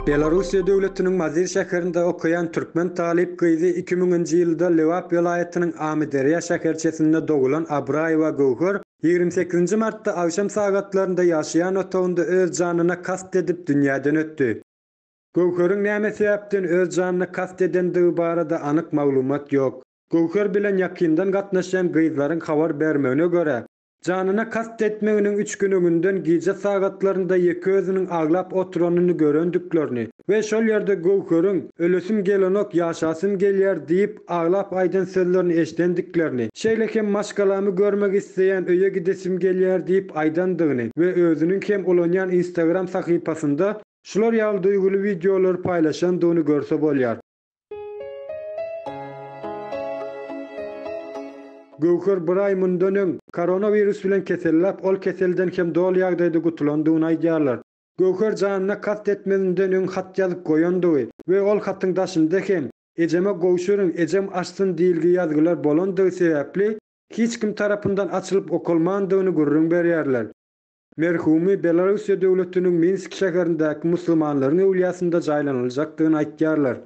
Belarussiýa döwletiniň Mazyr şäherinde okaýan türkmen talyp gyzy iki müňünji ýylda Lebap welaýatynyň Amyderýa şäherçesinde dogulan Abraýewa Göwher ýigrimi sekizinji martda agşam sagatlarynda ýaşaýan otagynda öz janyna kast edip dünýäden ötdi. Göwheriň näme sebäpden öz janyna kast edendigi barada anyk maglumat ýok. Göwher bilen ýakyndan gatnaşýan gyzlaryň habar bermegine görä, janyna kast etmeginiň üç gün öňünden gije sagatlarynda ýeke özüniň aglap oturanyny görendiklerini we şol ýerde Göwheriň Ölesim gelenok, ýaşasym gelýär diýip, aglap aýdan sözlerini eşidendiklerini, şeýle hem Maşgalamy görmek isleýän, öýe gidesim gelýär diýip aýdandygyny we özüniň hem ulanýan Instagram sahypasynda Şular ýaly duýguly wideolary paýlaşandygyny görse bolýar. Göwher bir aý mundan öň, koronawirus bilen keselläp, ol keselden hem doly ýagdaýda gutulandygyny aýdýarlar. Göwher janyna kast etmezinden öň hat ýazyp goýandygy we ol hatyň daşynda hem, Ejeme gowşuryň, ejem açsyn diýilgi ýazgylar bolandygy sebäpli, hiç kim tarapyndan açylyp okalmandygyny gürrüň berýärler. Merhumy Belarussiýa döwletiniň Minsk şäherindäki musulmanlaryň öwlýasynda jaýlanyljakdygyny aýtýarlar.